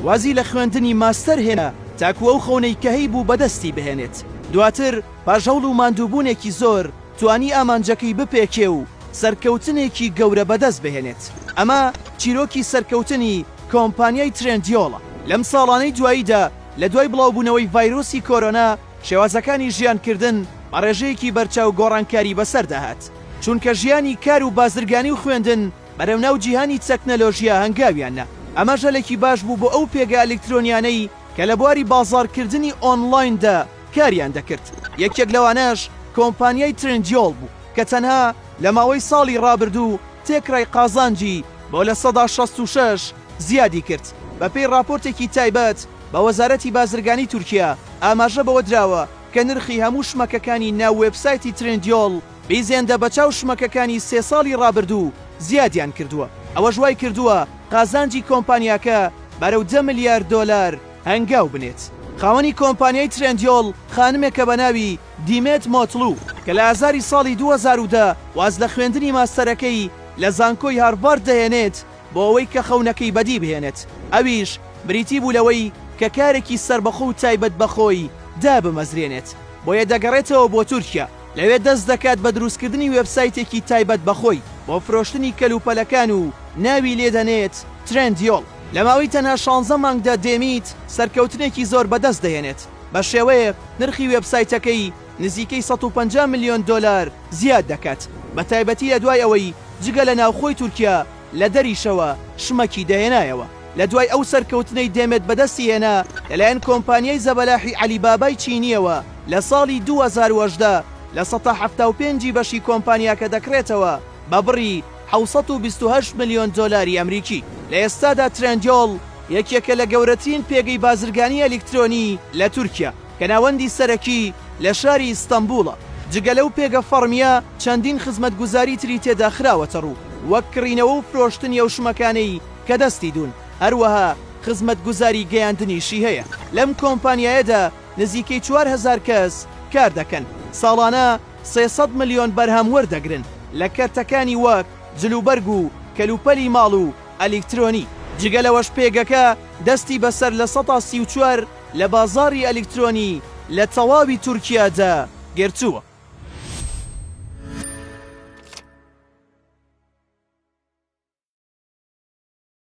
وازی لە خوێندنی ماستەر هێنا تاکو ئەو خەونەی کە هەیبوو بەدەستی بهێنێت، دواتر پاش هەوڵ و ماندووبوونێکی زۆر توانی ئامانجەکەی بپێکێ و سەرکەوتنێکی گەورە بەدەست بهێنێت، ئەمە چیرۆکی سەرکەوتنی کۆمپانیای ترێندیۆڵە. لەم ساڵانەی دواییدا لە دوای بڵاوبوونەوەی ڤایرۆسی کۆرۆنا شێوازەکانی ژیانکردن بە ڕێژەیەکی بەرچاو گۆڕانکاری بەسەردا هات، چونکە ژیانی کار و بازرگانی و خوێندن، بەرەو ناو جیهانی تەکنەلۆژیا هەنگاویان نا، ئەمەش هەلێکی باش بوو بۆ ئەو پێگە ئەلیکترۆنیانەی کە لە بواری بازاڕکردنی ئۆنڵایندا کاریان دەکرد، یەکێک لەوانەش کۆمپانیای ترندیۆل بوو کە تەنها لە ماوەی ساڵی ڕابردوو تێکڕای قازانجی بۆ لە سەدا شەست و شەش زیادی کرد، بەپێی ڕاپۆرتێکی تایبەت بە وەزارەتی بازرگانی تورکیا ئاماژە بەوە دراوە کە نرخی هەموو شمەکەکانی ناو وێبسایتی ترندیۆل بیزێندە بەچاو شمەکەکانی سێ ساڵی رابردوو زیادیان کردووە، ئەوەش وای کردووە قازانجی کۆمپانیاکە بەرەو دە ملیار دۆلار هەنگاو بنێت. خاوەنی کۆمپانیای ترێندیۆل خانمێکە بە ناوی دیمێت مۆتڵو کە لە ئازاری ساڵی دوو هەزار و دە واز لە خوێندنی ماستەرەکەی لە زانکۆی هارڤارد دەهێنێت بۆ ئەوەی کە خەونەکەی بەدی بهێنێت ئەویش بریتی بوو لەوەی کە کارێکی سەربەخۆ و تایبەت بە خۆی دابمەزرێنێت بۆیە دەگەڕێتەوە بۆ تورکیا. لەوێ دەست دەکات بە دروستکردنی وێبسایتێکی تایبەت بە خۆی بۆ فرۆشتنی کەلوپەلەکان و ناوی لێ دەنێت ترێندیۆڵ. لە ماوەی تەنها شانزە مانگدا دێمیت سەرکەوتنێکی زۆر بەدەست دەهێنێت بە شێوەیەک نرخی وێبسایتەکەی نزیکەی سەد و پەنجا ملیۆن دۆلار زیاد دەکات بە تایبەتی لە دوای ئەوەی جگە لە ناوخۆی تورکیا لە دەریشەوە شمەکی دەهێنایەوە. لە دوای ئەو سەرکەوتنەی دێمێت بەدەستی هێنا لەلایەن کۆمپانیای زەبەلاحی عەلی بابای چینییەوە لە ساڵی دوو هەزار و هەژدە لە سەتا حەفتا و پێنج ی بەشی کۆمپانیاکە دەکڕێتەوە بە بڕی حەوت سەد و بیست و هەشت ملیۆن دۆلاری ئەمریکی. لە ئێستادا ترێندیۆل یەکێکە لە گەورەترین پێگەی بازرگانی ئەلیکترۆنی لە تورکیا. کە ناوەندی سەرەکی لە شاری ئیستەنبووڵە، جگە لەو پێگە فەڕمییە چەندین خزمەتگوزاری تری تێدا خراوەتەڕوو، وەک کڕینەوە و فرۆشتنی ئەو شمەکانەی کە دەستی دوون، هەروەها خزمەتگوزاری گەیاندنیشی هەیە، لەم کۆمپانیایەدا نزیکەی چوار هەزار کەس کاردەکەن، ساڵانە سێ سەد ملیۆن بەرهەم وەردەگرن، لە کەرتەکانی وەک جلوبەرگ و کەلوپەلی ماڵ و ئەلیکترۆنی. جگە لەوەش پێگەکە دەستی بەسەر لە سەدا سی و چوار لە بازاڕی ئەلیکترۆنی لە تەواوی تورکیادا گرتووە.